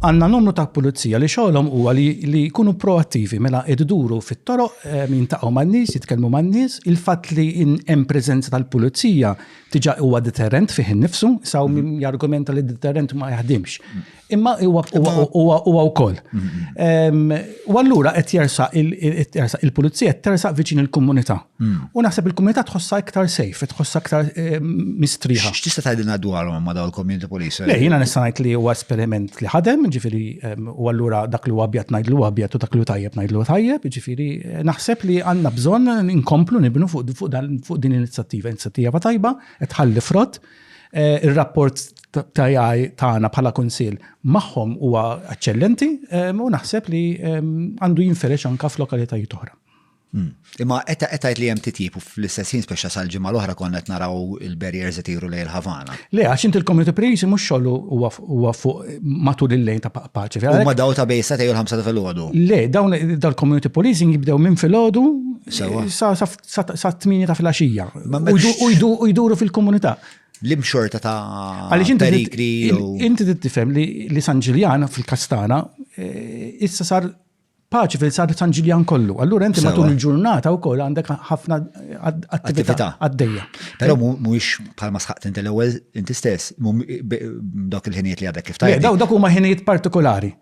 Għandna numru ta' pulizija li xogħolhom huwa li jkunu proattivi mela idduru fit-toroq ehm, jintaqgħu man-nies, jitkellmu man-nies, il-fatt li hemm preżenza tal-pulizija tiġa huwa deterrent fih innifsu, saw min mhm. jargumenta li deterrent ma jaħdimx. Mhm. Imma huwa wkoll. Mhm. Ehm, u allura qed jersaq il-pulizija qed tersaq viċin il-komunità. Hmm. U naħseb il-komunità tħossha iktar safe, tħossha iktar eh, mistriħa. X'tista' tgħidilna dwarhom ma' dawn il-community police? Le, jiena nista' ngħid li huwa esperiment li ħadem, ġifieri ehm, u allura dak li huwa abjad ngħidlu abjad u dak li tajjeb ngħidlu tajjeb, ġifieri eh, naħseb li għandna bżonn inkomplu nibnu fuq din l-inizjattiva, inizjattiva tajba, qed ħalli frott. Eh, ir-rapport tajaj tagħna bħala kunsil magħhom huwa eċċellenti ehm, u naħseb li ehm, għandu jinferex anka f'lokalitajiet oħra. Hmm. Imma qed tgħid li hemm titjib u fl-istess ħin speċa sal-ġimgħa l-oħra konna qed naraw il-barriers qed jiru lejn il-Ħavana. Le, għax inti l-community police mhux xogħlu huwa fuq matul il-lejn ta' paċi. Huma daw ta' bejsa tgħidu l-ħamsa ta' filgħodu. Le, dawn dal-community policing jibdew minn filgħodu sa' tmieni ta' filgħaxija. U jduru fil-komunità l-imxorta ta' perikli. Inti tifhem li San Ġiljan fil-Kastana eh, issa sar Paċi fil sar San Ġiljan kollu. Allura inti matul il-ġurnata wkoll għandek ħafna attività għaddejja. Però mhuwiex bħalma sħaqt inti l-ewwel inti stess, dawk il-ħinijiet li għadek kif tajjeb. Daw dak huma ħinijiet partikolari.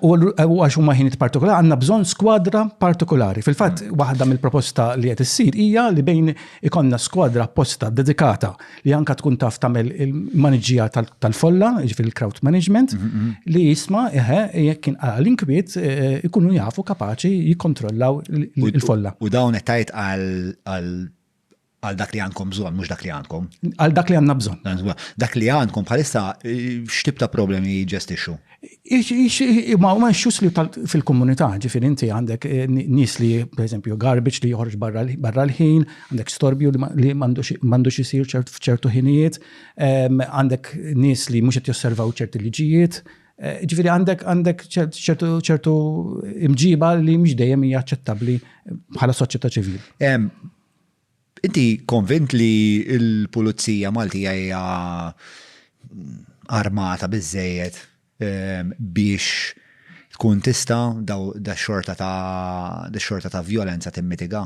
U għax huma ħinijiet partikolari għandna bżonn skwadra partikolari. Fil-fatt mm. waħda mill-proposta li qed issir hija li bejn ikonna skwadra apposta dedikata li anka tkun taf tagħmel il-maniġija tal-folla, jiġifieri il-crowd management, mm, mm, mm. li jisma' eħe jekk kien għal inkwiet e, e, ikunu jafu kapaċi jikkontrollaw il-folla. U dawn qed tgħid għal għal dak li għandkom bżon, mux dak li għandkom. Għal dak li għandna bżon. Dak li għandkom bħalissa e, x'tib ta' problemi jġestixu? Ma huma issues li fil-komunità, ġifieri inti għandek eh, nies li pereżempju garbage li joħorġ barra l-ħin, għandek storbju li m'għandux isir f'ċertu ħinijiet, ehm, għandek nies li mhux qed josservaw ċerti liġijiet, eh, ġifieri għandek għandek ċertu imġiba li mhux dejjem hija aċċettabbli bħala soċjetà ċivili. Ehm, Inti konvint li l-Pulizija Maltija hija armata biżżejjed biex tkun tista' dax-xorta ta' vjolenza timmitiga?